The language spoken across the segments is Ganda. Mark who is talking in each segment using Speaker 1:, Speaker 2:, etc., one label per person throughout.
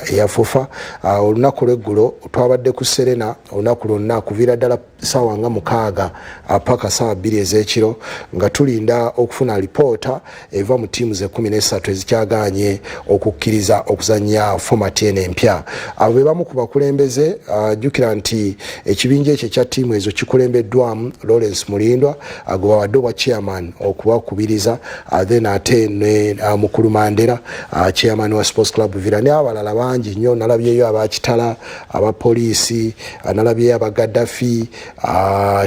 Speaker 1: eyafufa ah, olunaku lweggulo twabadde ku serena olunaku lwonna kuviira ddala saawa nga mukaaga ah, paka saawa bbiri ezekiro nga tulinda okufuna alipoota eva mu tiimu zekumi nesatu ezikyaganye okukkiriza okuzanya fomati eno empya abo be bamu ku bakulembeze ah, jjukira nti ekibinja ekyo ekya tiimu ezo kikulembeddwamu lawrence mulindwa agubawadde obwa chairman okubakubiriza uh, then ate ne uh, mukulu mandera uh, chairman wa sports club villa ne abalala bangi nnyo nalabyeyo abakitala abapoliisi nalabyeyo abagadafi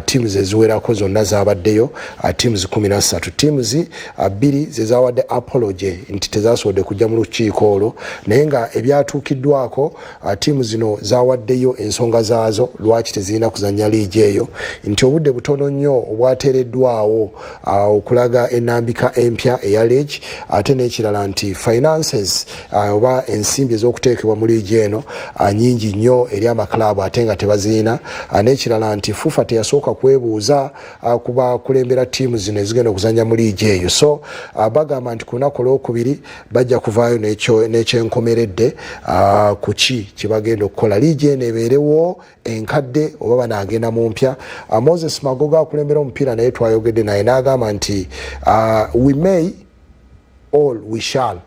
Speaker 1: teams eziwerako zonna zabaddeyo teams kumi nassatu teams bbiri zezawadde apology nti tezasobodde kujja mu lukiiko olwo naye nga ebyatuukiddwako Uh, tiimu zino zawaddeyo ensonga zaazo lwaki tezirina kuzanya liigi eyo nti obudde butono nnyo obwateereddwawo uh, okulaga enambika empya eya leegi ate n'ekirala nti finances uh, oba ensimbi ez'okuteekebwa mu liigi eno nyingi nnyo eri amakilaabu ate nga tebazirina n'ekirala nti fufa teyasooka kwebuuza ku bakulembera tiimu zino ezigenda okuzanya mu liigi eyo so bagamba nti ku lunaku olwokubiri bajja kuvaayo n'ekyenkomeredde ah, ku ki kyebagenda okukola liigi eno ebeerewo enkadde oba banagenda mu mpya ah, moses magoga akulembera omupiira naye twayogedde naye n'agamba nti ah, we may all we shall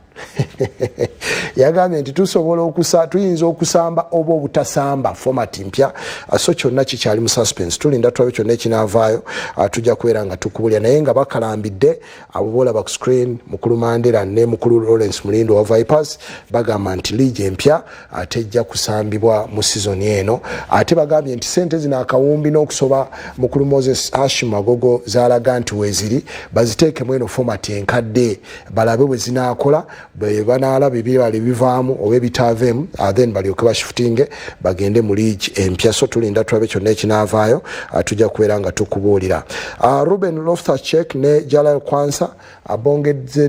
Speaker 1: yagambye nti tusobola okusa tuyinza okusamba oba obutasamba format mpya ah, so kyonna kikyali mu suspense tulinda tulabe kyonna ekinaavaayo ah, tujja kubeera nga tukubulya naye nga bakalambidde abo bolaba ku screen mukulu mandela ne mukulu lawrence mulindo wa vipers bagamba nti liigi empya ate ejja kusambibwa mu sizoni eno ate bagambye nti sente zino akawumbi n'okusoba mukulu moses ashim agogo zalaga nti weziri baziteekemu eno fomati enkadde balabe bwe zinaakola bwebanaalaba ebibala ebivaamu oba ebitaaveemu uh, then balyoke bashifutinge bagende mu liigi empya so tulinda tulabe kyonna ekinaavaayo uh, tujja kubeera nga tukubuulira uh, ruben lofthachek ne jalal kwansa abongedze